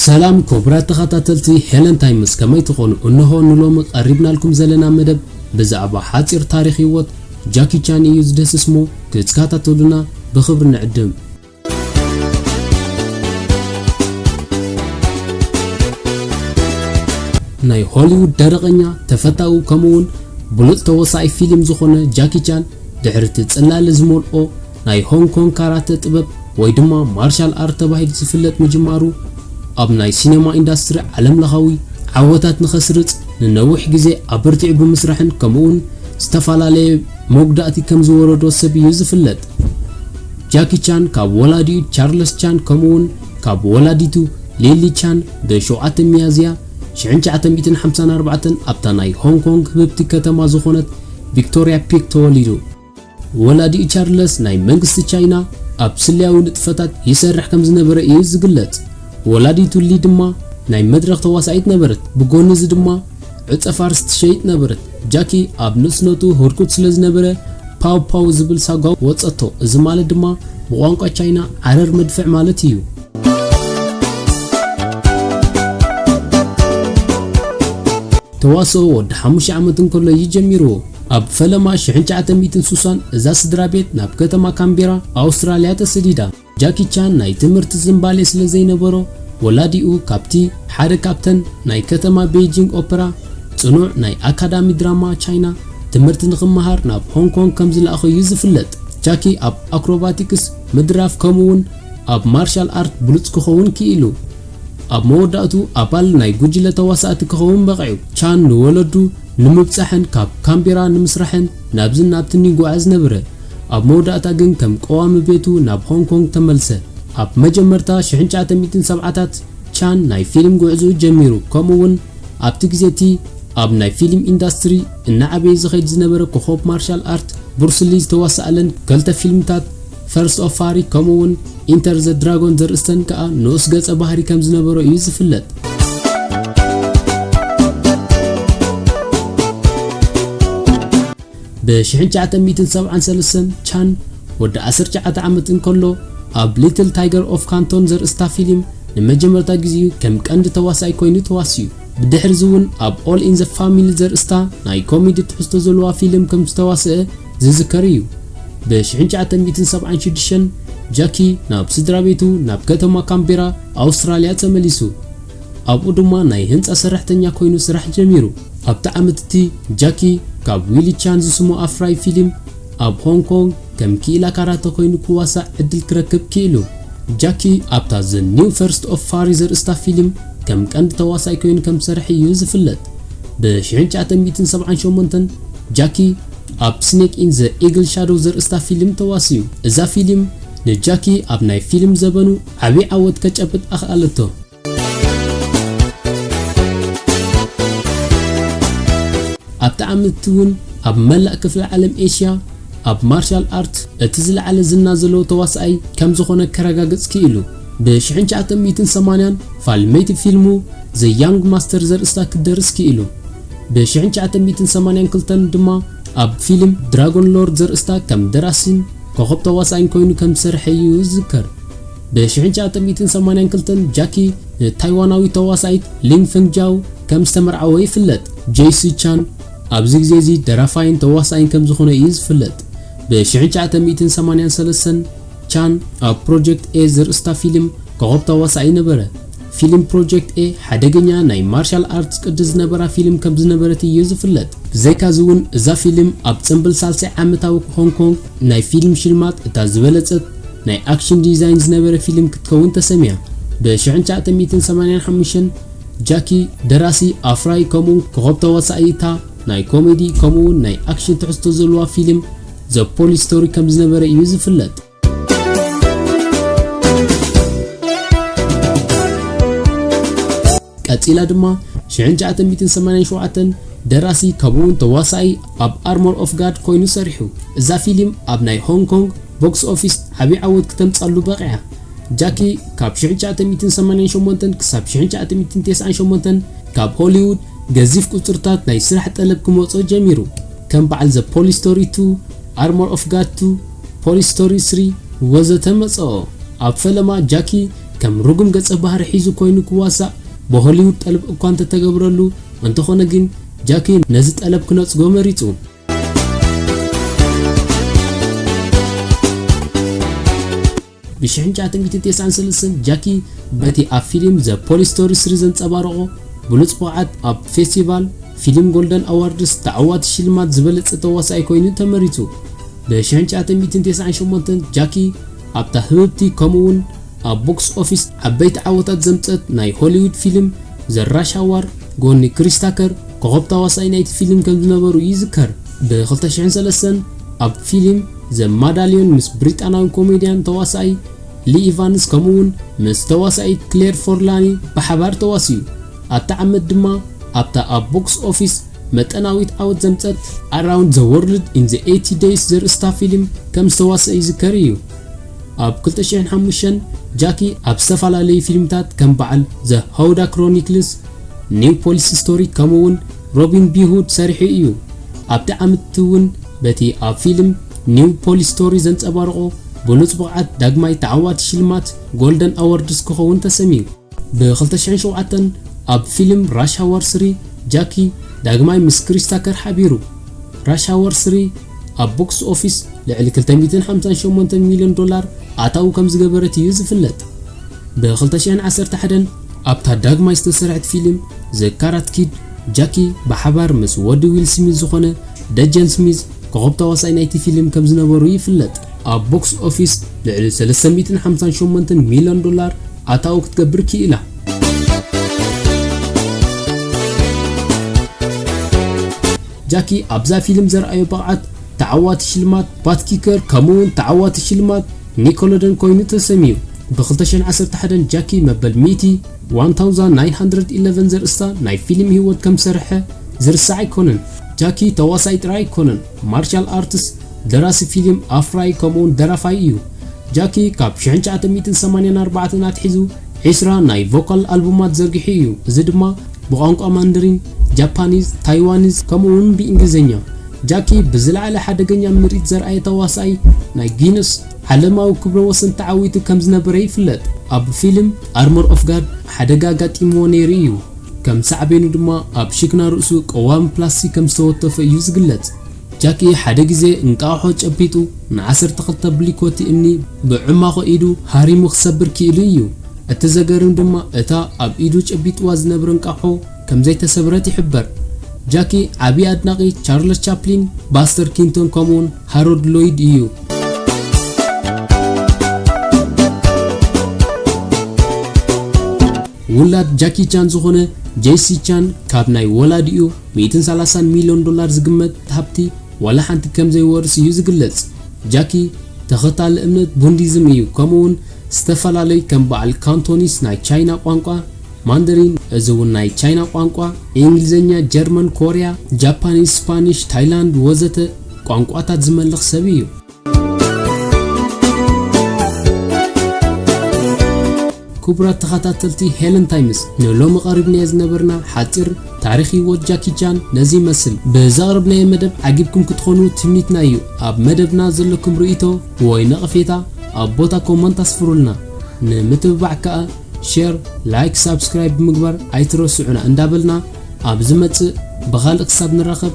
ሰላም ክቡራት ተኸታተልቲ ሄለን ታይምስ ከመይ ትኾኑ? እንሆ ንሎሚ ቀሪብናልኩም ዘለና መደብ ብዛዕባ ሓጺር ታሪኽ ህይወት ጃኪ ቻን እዩ ዝድህስስ እሞ ክትካታተሉና ብኽብሪ ንዕድም። ናይ ሆሊዉድ ደረቐኛ ተፈታዊ ከምኡውን ብሉጽ ተወሳኣይ ፊሊም ዝኾነ ጃኪ ቻን ድሕሪ እቲ ጽላለ ዝመልኦ ናይ ሆንግ ኮንግ ካራተ ጥበብ ወይ ድማ ማርሻል ኣርት ተባሂሉ ዝፍለጥ ምጅማሩ፣ ኣብ ናይ ሲነማ ኢንዳስትሪ ዓለምለኻዊ ዓወታት ንኸስርጽ ንነዊሕ ግዜ ኣበርቲዑ ብምስራሕን ከምኡ'ውን ዝተፋላለየ መጉዳእቲ ከም ዝወረዶ ሰብ እዩ ዝፍለጥ። ጃኪ ቻን ካብ ወላዲኡ ቻርለስ ቻን ከምኡ'ውን ካብ ወላዲቱ ሊሊ ቻን ብ ሸውዓተ ሚያዝያ ሽሕን ትሽዓተ ሚእትን ሓምሳን ኣርባዕተን ኣብታ ናይ ሆንግ ኮንግ ህብብቲ ከተማ ዝኾነት ቪክቶርያ ፒክ ተወሊዱ። ወላዲኡ ቻርለስ ናይ መንግስቲ ቻይና ኣብ ስለያዊ ንጥፈታት ይሰርሕ ከም ዝነበረ እዩ ዝግለጽ። ወላዲቱ ሊ ድማ ናይ መድረኽ ተዋሳኢት ነበረት፣ ብጎኒ እዚ ድማ ዕጸ ፋርስ ትሸይጥ ነበረት። ጃኪ ኣብ ንእስነቱ ህርኩት ስለ ዝነበረ ፓው ፓው ዝብል ሳጓ ወጸቶ፣ እዚ ማለት ድማ ብቋንቋ ቻይና ዓረር መድፍዕ ማለት እዩ። ተዋስኦ ወዲ ሓሙሽተ ዓመት እንከሎ እዩ ጀሚርዎ። ኣብ ፈለማ ሽሕን ትሽዓተ ሚእትን ሱሳን እዛ ስድራ ቤት ናብ ከተማ ካንቤራ፣ ኣውስትራልያ ተሰዲዳ። ጃኪ ቻን ናይ ትምህርቲ ዝንባሌ ስለ ዘይነበሮ፣ ወላዲኡ ካብቲ ሓደ ካብተን ናይ ከተማ ቤይጂንግ ኦፐራ፣ ጽኑዕ ናይ ኣካዳሚ ድራማ ቻይና፣ ትምህርቲ ንኽመሃር ናብ ሆንግ ኮንግ ከም ዝለኣኾ'ዩ ዝፍለጥ። ጃኪ ኣብ ኣክሮባቲክስ፣ ምድራፍ፣ ከምኡ'ውን ኣብ ማርሻል ኣርት ብሉጽ ክኸውን ክኢሉ። ኣብ መወዳእቱ ኣባል ናይ ጉጅለ ተዋሳእቲ ክኸውን በቒዑ። ቻን ንወለዱ ንምብጻሕን ካብ ካንቤራ ንምስራሕን ናብዝን ናብትን ይጓዓዝ ነበረ። ኣብ መወዳእታ ግን ከም ቀዋሚ ቤቱ ናብ ሆንግ ኮንግ ተመልሰ። ኣብ መጀመርታ ሽሕን ትሽዓተ ሚእትን ሰብዓታት ቻን ናይ ፊልም ጉዕዝኡ ጀሚሩ ከምኡ'ውን ኣብቲ ግዜ እቲ ኣብ ናይ ፊልም ኢንዳስትሪ እናዓበየ ዝኸይድ ዝነበረ ኮኾብ ማርሻል ኣርት ቡርስ ሊ ዝተዋስኣለን ከልተ ፊልምታት ፈርስት ኦፍ ፋሪ ከምኡ'ውን ኢንተር ዘ ድራጎን ዘርእስተን ከኣ ንኡስ ገጸ ባህሪ ከም ዝነበሮ እዩ ዝፍለጥ። ብ1973 ቻን ወዲ 19 ዓመት እንከሎ ኣብ ሊትል ታይገር ኦፍ ካንቶን ዘርእስታ ፊልም ንመጀመርታ ግዜኡ ከም ቀንዲ ተዋሳኣይ ኮይኑ ተዋሲኡ። ብድሕርዚ እውን ኣብ ኦል ኢን ዘ ፋሚሊ ዘርእስታ ናይ ኮሜዲ ትሕዝቶ ዘለዋ ፊልም ከም ዝተዋስኣ ዝዝከር እዩ። ብ ሽሕን ትሽዓተ ሚእትን ሰብዓን ሽዱሽተን ጃኪ ናብ ስድራቤቱ ናብ ከተማ ካንቤራ፣ ኣውስትራልያ ተመሊሱ። ኣብኡ ድማ ናይ ህንጻ ሰራሕተኛ ኰይኑ ስራሕ ጀሚሩ። ኣብቲ ዓመት እቲ ጃኪ ካብ ዊሊ ቻን ዝስሞ ኣፍራዪ ፊልም፣ ኣብ ሆንግ ኮንግ ከም ክኢላ ካራተ ኰይኑ ክዋሳእ ዕድል ክረክብ ክኢሉ። ጃኪ ኣብታ The New First of Fari ዘርእስታ ፊልም ከም ቀንዲ ተዋሳኣይ ኰይኑ ከም ዝሰርሐ እዩ ዝፍለጥ። ብ ሽሕን ትሽዓተ ሚእትን ሰብዓን ሸሞንተን ጃኪ ኣብ Snake in the Eagle Shadow ዘርእስታ ፊልም ተዋሲኡ። እዛ ፊልም ንጃኪ ኣብ ናይ ፊልም ዘበኑ ዓቢ ዓወት ከጨብጥ ኣኽኣለቶ። ኣብቲ ዓመት'ቲ እውን ኣብ መላእ ክፍለ ዓለም ኤሽያ ኣብ ማርሻል ኣርት እቲ ዝለዓለ ዝና ዘለዎ ተዋሳኣይ ከም ዝኾነ ከረጋግጽ ክኢሉ። ብ ሽሕን ትሽዓተ ሚእትን ሰማንያን ፋልመይቲ ፊልሙ The Young Master ዘርእስታ ክደርስ ክኢሉ። ብ ሽሕን ትሽዓተ ሚእትን ሰማንያን ክልተን ድማ ኣብ ፊልም Dragon Lord ዘርእስታ ከም ደራሲን ኮኾብ ተዋሳኣይን ኮይኑ ከም ዝሰርሐ እዩ ዝዝከር። ብ1982 ጃኪ ንታይዋናዊት ተዋሳኢት ሊን ፈንግ ጃው ከም ዝተመርዓወ ይፍለጥ። ጀይሲ ቻን ኣብዚ ግዜ እዚ ደራፋይን ተዋሳኣይን ከም ዝዀነ እዩ ዝፍለጥ። ብ1983 ቻን ኣብ ፕሮጀክት ኤ ዘርእስታ ፊልም ኮኾብ ተዋሳኣይ ነበረ። ፊልም ፕሮጀክት ኤ ሓደገኛ ናይ ማርሻል ኣርትስ ቅዲ ዝነበራ ፊልም ከም ዝነበረት እዮ ዝፍለጥ። ብዘይካ'ዚ'ውን እዛ ፊልም ኣብ ጽንብል ሳልሳይ ዓመታዊ ሆንግ ኮንግ ናይ ፊልም ሽልማት እታ ዝበለጸት ናይ ኣክሽን ዲዛይን ዝነበረ ፊልም ክትከውን ተሰምያ። ብ ሽሕን ትሽዓተ ሚእትን ሰማንያን ሓሙሽተን ጃኪ፣ ደራሲ፣ ኣፍራዪ ከምኡ'ውን ኮኾብ ተዋሳኢ እታ ናይ ኮሜዲ ከምኡ'ውን ናይ ኣክሽን ትሕዝቶ ዘለዋ ፊልም ዘ ፖሊስ ስቶሪ ከም ዝነበረ እዩ ዝፍለጥ። ቀጺላ ድማ 1987 ደራሲ ከምኡውን ተዋሳኢ ኣብ ኣርሞር ኦፍ ጋድ ኮይኑ ሰሪሑ እዛ ፊልም ኣብ ናይ ሆንግ ኮንግ ቦክስ ኦፊስ ዓብዪ ዓወት ክተምጻሉ በቂዓ ጃኪ ካብ 1988 ክሳብ 1998 ካብ ሆሊውድ ገዚፍ ቁጽርታት ናይ ስራሕ ጠለብ ክመጾ ጀሚሩ ከም በዓል ዘ ፖሊስ ስቶሪ 2 ኣርሞር ኦፍ ጋድ ቱ፣ ፖሊስ ስቶሪ ስሪ፣ ወዘተ መጸኦ። ኣብ ፈለማ ጃኪ ከም ርጉም ገጸ ባህሪ ሒዙ ኮይኑ ክዋሳእ ብሆሊውድ ጠልብ እኳ እንተተገብረሉ፣ እንተኾነ ግን ጃኪ ነዚ ጠለብ ክነጽጎ መሪጹ። ብሽሕንጫ ትንግቲ ቴስዓን ሰለስተን ጃኪ በቲ ኣብ ፊሊም ዘ ፖሊስ ስቶሪ ስሪ ዘንጸባረቖ ብሉጽ ብቕዓት ኣብ ፌስቲቫል ፊሊም ጎልደን ኣዋርድስ ተዓዋቲ ሽልማት ዝበለጸ ተዋሳኣይ ኮይኑ ተመሪጹ። ብሽሕንጫ ትንግትን ቴስዓን ሸሞንተን ጃኪ ኣብታ ህብብቲ ከምኡ'ውን ኣብ ቦክስ ኦፊስ ዓበይቲ ዓወታት ዘምጸት ናይ ሆሊውድ ፊሊም ዘ ራሽ ኣዋር ጎኒ ክሪስ ታከር ኮኾብ ተዋሳኣይ ናይቲ ፊሊም ከምዝነበሩ ይዝከር። ብ ክልተ ሽሕን ሰለስተን ኣብ ፊሊም ዘ ማዳልዮን ምስ ብሪጣንያዊ ኮሜድያን ተዋሳኣይ ሊ ኢቫንስ ከምኡ'ውን ምስ ተዋሳኢት ክሌር ፎርላኒ ብሓባር ተዋሲኡ። ኣብታ ዓመት ድማ ኣብታ ኣብ ቦክስ ኦፊስ መጠናዊት ዓወት ዘምጸት፣ ኣራውንድ ዘ ዎርልድ ኢን ዘ ኤይቲ ደይስ ዘርእስታ ፊልም ከም ዝተዋስኣ ይዝከር እዩ። ኣብ ክልተ ሽሕን ሓሙሽተን ጃኪ ኣብ ዝተፈላለዩ ፊልምታት ከም በዓል ዘ ሆውዳ ክሮኒክልስ፣ ኒው ፖሊስ ስቶሪ ከምኡ'ውን ሮቢን ቢ ሁድ ሰሪሑ እዩ። ኣብቲ ዓመት'ቲ እውን። በቲ ኣብ ፊልም ኒው ፖሊስ ስቶሪ ዘንጸባረቖ ብሉጽ ብቕዓት ዳግማይ ተዓዋቲ ሽልማት ጎልደን ኣዎርድስ ክኸውን ተሰምዩ። ብ ክልተ ሽሕን ሸውዓተን ኣብ ፊልም ራሽ ሃወር ስሪ ጃኪ ዳግማይ ምስ ክሪስ ታከር ሓቢሩ። ራሽ ሃወር ስሪ ኣብ ቦክስ ኦፊስ ልዕሊ ክልተ ሚእትን ሓምሳን ሸሞንተን ሚልዮን ዶላር ኣታዊ ከም ዝገበረት እዩ ዝፍለጥ። ብ ክልተ ሽሕን ዓሰርተ ሓደን ኣብታ ዳግማይ ዝተሰርሐት ፊልም ዘ ካራት ኪድ፣ ጃኪ ብሓባር ምስ ወዲ ዊል ስሚዝ ዝኾነ ደጀን ስሚዝ ኮኾብ ተዋሳኣይ ናይቲ ፊልም ከም ዝነበሩ ይፍለጥ። ኣብ ቦክስ ኦፊስ ልዕሊ ሰለስተ ሚእትን ሓምሳን ሸሞንተን ሚልዮን ዶላር ኣታዊ ክትገብር ክኢላ። ጃኪ ኣብዛ ፊልም ዘርኣዮ ብቕዓት ተዓዋቲ ሽልማት ባት ኪከር ከምኡ'ውን ተዓዋቲ ሽልማት ኒኮሎደን ኮይኑ ተሰምዩ። ብ ክልተ ሽሕን ዓሰርተ ሓደን ጃኪ መበል ሚእቲ ዋን ታውዛን ናይን ሃንድረድ ኢለቨን ዘርእስታ ናይ ፊልም ህይወት ከም ዝሰርሐ ዝርሳዕ ኣይኮነን። ጃኪ ተዋሳኢ ጥራይ ኣይኮነን፣ ማርሻል ኣርትስ፣ ደራሲ ፊልም፣ ኣፍራዪ ከምኡ'ውን ደራፋይ እዩ። ጃኪ ካብ ሽሕን ትሽዓተ ሚእትን ሰማንያን ኣርባዕተን ኣትሒዙ ዕስራ ናይ ቮካል ኣልቡማት ዘርጊሑ እዩ፣ እዚ ድማ ብቋንቋ ማንደሪን፣ ጃፓኒዝ፣ ታይዋኒዝ፣ ከምኡ'ውን ብእንግሊዝኛ። ጃኪ ብዝለዓለ ሓደገኛ ምርኢት ዘርኣየ ተዋሳኣይ ናይ ጊነስ ዓለማዊ ክብረ ወሰን ተዓዊቱ ከም ዝነበረ ይፍለጥ። ኣብ ፊልም። ኣርሞር ኦፍ ጋድ ሓደጋ ኣጋጢምዎ ነይሩ እዩ፣ ከም ሳዕቤኑ ድማ ኣብ ሽክና ርእሱ ቀዋሚ ፕላስቲክ ከም ዝተወተፎ እዩ ዝግለጽ። ጃኪ ሓደ ግዜ እንቋቑሖ ጨቢጡ ንዓሰርተ ክልተ ብሊኮቲ እምኒ ብዕማኾ ኢዱ ሃሪሙ ክሰብር ክኢሉ እዩ። እቲ ዘገርም ድማ እታ ኣብ ኢዱ ጨቢጥዋ ዝነብረ እንቋቑሖ ከም ዘይተሰብረት ይሕበር። ጃኪ ዓቢ ኣድናቒ ቻርለስ ቻፕሊን፣ ባስተር ኪንቶን ከምኡውን ሃሮድ ሎይድ እዩ። ውላድ ጃኪ ቻን ዝኾነ ጄሲ ቻን ካብ ናይ ወላዲኡ ሚእትን ሰላሳን ሚልዮን ዶላር ዝግመት ሃብቲ ዋላ ሓንቲ ከም ዘይወርስ እዩ ዝግለጽ። ጃኪ ተኸታሊ እምነት ቡንዲዝም እዩ ከምኡ'ውን ዝተፈላለዩ ከም በዓል ካንቶኒስ ናይ ቻይና ቋንቋ፣ ማንደሪን እዚ እውን ናይ ቻይና ቋንቋ፣ ኢንግሊዘኛ፣ ጀርመን፣ ኮርያ፣ ጃፓኒስ፣ ስፓኒሽ፣ ታይላንድ ወዘተ ቋንቋታት ዝመልኽ ሰብ እዩ። ክቡራት ተኸታተልቲ ሄለን ታይምስ ንሎሚ ቀሪብናዮ ዝነበርና ሓጺር ታሪኽ ህይወት ጃኪ ቻን ነዚ ይመስል። ብዘቕረብናዮ መደብ ዓጊብኩም ክትኾኑ ትምኒትና እዩ። ኣብ መደብና ዘለኩም ርእይቶ ወይ ነቐፌታ ኣብ ቦታ ኮመንት ኣስፍሩልና። ንምትብባዕ ከኣ ሼር፣ ላይክ፣ ሳብስክራይብ ብምግባር ኣይትረስዑና እንዳበልና ኣብ ዝመጽእ ብኻልእ ክሳብ ንራኸብ